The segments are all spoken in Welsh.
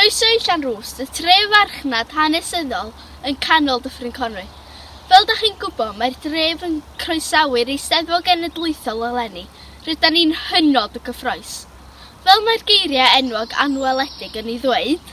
Croeso i Llanrwst, y tre farchnad hanesyddol yn canol Dyffryn Conwy. Fel da chi'n gwybod, mae'r dref yn croesawu'r Eisteddfod Genedlaethol eleni, rydan ni'n hynod o gyffroes. Fel mae'r geiriau enwog anweledig yn ei ddweud,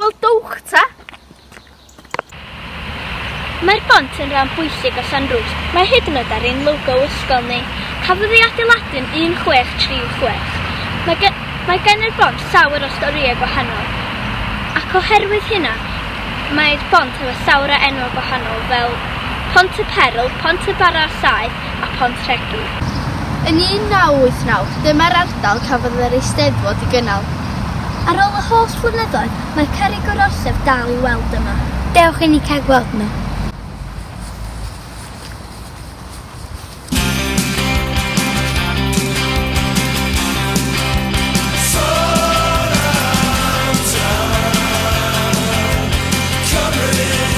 Wel, dowch ta! Mae'r bont yn rhan bwysig o Sandrws. Mae hyd yn oed ar ein logo ysgol ni. Cafodd ei adeiladu'n 1636. Mae, gen, mae gen yr bont llawer o storïau gwahanol. Ac oherwydd hynna, mae'r bont efo llawer o enwau gwahanol fel Pont y Perl, Pont y Bara Saeth, a Phont Rhegwi. Yn 1989, dyma'r ardal cafodd yr Eisteddfod i gynnal. Ar ôl y holl flynyddoedd, mae Cerrig yr Orsedd dal i'w weld yma. Dewch i ni cael gweld nhw!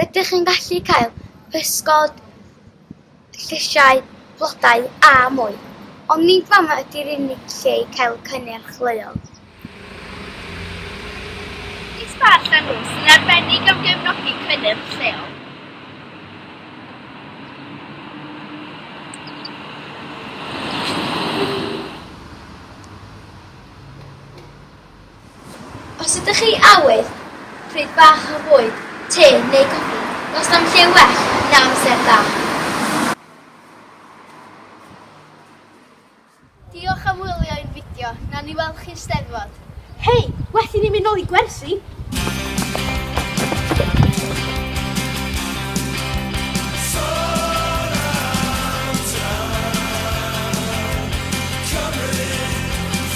Rydych chi'n gallu cael pysgod, llysiau, blodau a mwy, ond nid fama ydy'r unig lle i gael cynnyrch leol. Is Bar Llanw sy'n arbennig am gefnogi cynnyrch lleol. Os ydych chi awydd, pryd bach o fwyd, te neu goffi, does na'm lle well na amser da. Diolch am wylio ein fideo, nawn ni weld chi'r Steddfod! Hei! Well i ni mynd nôl i gwersi!